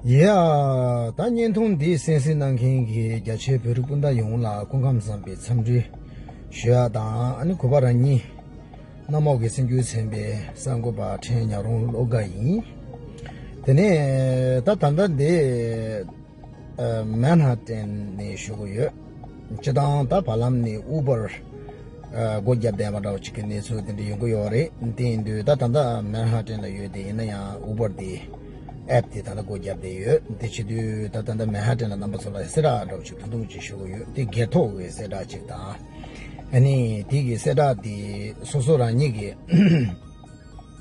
ཡེ། ད་བརྙན་ཐུང་འདི་གསན་གཟིགས་གནང་མཁན་གྱི་རྒྱ་ཆེའི་བོད་རིགས་སྤུན་ཟླ་ཡོངས་ལ་སྐུ་ཁམས་བཟང་པའི་འཚམས་འདྲི་ཞུ་ཡག་དང་གོ་བ་རང་ཉིད་གནམ་འོག་གི་སེམས་རྒྱུད་ཚན་པའི་གསར་འགོད་པ་ཕྲན་ཉག་རོང་བློ་དགའ་ཡིན། དེ་ནས་ད་ད་ལྟ་འདི། མན་ཧ་ཏན་ནས་བཞུགས་ཀྱི་ཡོད། སྤྱི་བཏང་ད་བར་ལམ་ནས Uber སྒོ་བརྒྱབ་བསྡད་པ་འདྲ་བ་ཅིག་གི་གནས་ཚུལ་དེ་འདྲ་ཡོང་གི་ཡོད་རེད་དེ་ཡིན་དུས་ད་ད་ལྟ་མན་ཧ་ཏན་ལ་ཡོད་དེ་ཡིན་ན་ཡང Uber དེ App དེ་ད་ལྟ་སྒོ་བརྒྱབ་བསྡད་ཡོད་དེ་བྱེད་དུས་ད་ད་ལྟ་མན་ཧ་ཏན་ལ་རྣམ་པ་ཚོ་ལ་གསལ་བསྒྲགས་འདྲ་བ་ཅིག་ཐུང་ཐུང་ཅིག་བཞུགས་ཀྱི་ཡོད་དེ་སྒེར་ཐོག་གི་གསལ་བསྒྲགས་ཅིག་དང། ཨ་ནི་དེ་གི་གསལ་བསྒྲགས་དེ་སོ་སོ་རང་ཉིད་ཀྱི།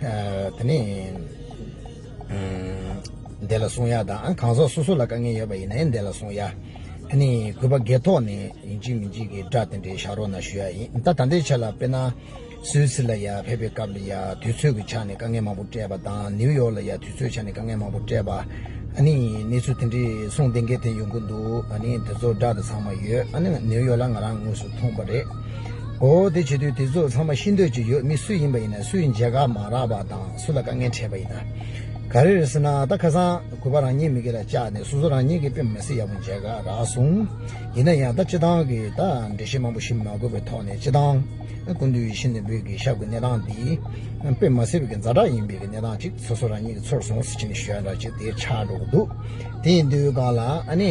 དེ་ནས་བནྡེ་ལ་སོང་ཡ་དང་གང་ཟག་སོ་སོ་ལ་དཀའ་ངལ་ཡོད་པ་ཡིན་ན་ཡང་བནྡེ་ལ་སོང་ཡ། དེ་ནས་གུས་པ་དགེ་ཐོག་ནས་ཡིན་གཅིག་མིན་གཅིག་གིས་སྒྲ་དེ་འདྲའི་བཞག་རོགས་གནང་ཞུ་ཡ་ཡིན་ད་ད་ལྟའི་ཆ་ལ་དཔེར་ན། སུད་སི་ལ་ཡ་ཕེབས་པའི་སྐབས་ལ་ཡ་དུས་ཚོད་ཀྱི་ཆ་ནས་དཀའ་ངལ་མང་པོ་སྤྲད་པ་དང་ནིའུ་ཡོག་ལ་ཡ་དུས་ཚོད་ཆ་ནས་དཀའ་ངལ་མང་པོ་སྤྲད་པ། ཨ་ནི་གནས་ཚུལ་དེ་འདྲའི་གསུང་གཏན་འཁེལ་དེ་ཡོང་གི་འདུག་ཨ་ནི་དེ་ཚོ་སྒྲ་དེ་ཚང་མ་ཡོད་ཨ་ནི་ནིའུ་ཡོག་ལ་ང་རང་དངོས་སུ་མཐོང་པ་རེད། འོ་དེ་བྱེད་དུས་དེ་ཚོ་ཚང་མ་ཤི་འདོད་ཀྱི་ཡོད་མི་སུ་ཡིན་པ་ཡིན་ན་སུའི་མཇལ་ཁ་མ་རག་པ་དང་སུ་ལ་དཀའ་ངལ་འཕྲད་པ་ཡིན་ན་ག་རེ་རེད་ཟེར་ན་ད་ཁ་སང་གུས་པ་རང་ཉིད་མི་དགེ་ལ་བཅག་ནས་སོ་སོ་རང་ཉིད་ཀྱི་པེ་མ་སི་ཡག་པོ་མཇལ་ཁ་རག་སོང་ཡིན་ན་ཡང་ད་སྤྱི་ཐང་གི་ད་འགྲེལ་བཤད་མང་པོ་ཞིག་མ་དགོས་པའི་ཐོག་ནས་སྤྱི་ཐང་ཀུན་འདུས་ཤིན་ཏུ་འབུལ་གྱི་ཤ་ཁུ་གནས་སྟངས་འདི་པེ་མ་སི་བའི་རྫ་དྲག་ཡིན་པའི་གནས་སྟངས་ཅིག་སོ་སོ་རང་ཉིད་ཀྱི་ཚོར་སོང་ཟེར་ཕྱིན་ཞོལ་འདྲ་ཅིག་དེ་ཆགས་འགྲོ་གི་འདུག་དེ་ཡིན་དུས་གང་ལ་ཨ་ནི།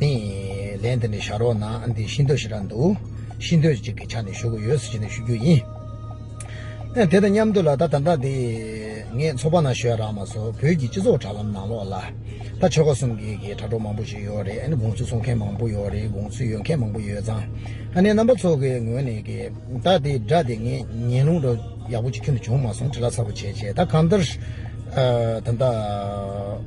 ནི། ལན་དེ་འདྲ་བྱ་རོགས་གནང་འདི་ཤིན་ཏུ་ཞེ་དྲག་འདུག་ཤིན་ཏུ་ཅིག་གི་ཆ་ནས་ཞུ་དགོས་ཡོད་ཟེར་བཞིན་དུ་ཞུ་རྒྱུ་ཡིན། ཨེ་དེ་དང་མཉམ་དུ་ལ་ད་ད་ལྟ་དེ། ངས་ཚོགས་པ་ནང་ཞོལ་རག་མ་སོགས་བོད་ཀྱི་སྤྱི་ཚོགས་དྲ་ལམ་ནང་ལོག་ལ། ད་ཆོལ་ཁ་གསུམ་གྱི་གི་དྲ་གྲོགས་མང་པོ་ཞིག་ཡོད་རེད་དགོངས་ཚུལ་གསུང་མཁན་མང་པོ་ཡོད་རེད་དགོངས་ཚུལ་ཡོད་མཁན་མང་པོ་ཡོད་ཙང། ཨ་ནེ་རྣམ་པ་ཚོ་གི་ངོས་ནས་གི་ད་དེ་དྲ་དེ་ངས་ཉན་ལུང་རོ་ཡག་པོ་ཅིག་ཁྱོན་དུ་བྱུང་མ་སོང་དྲི་ལ་ཚ་པོ་བྱས་བྱས་ད་གང་ལྟར། ད་ད།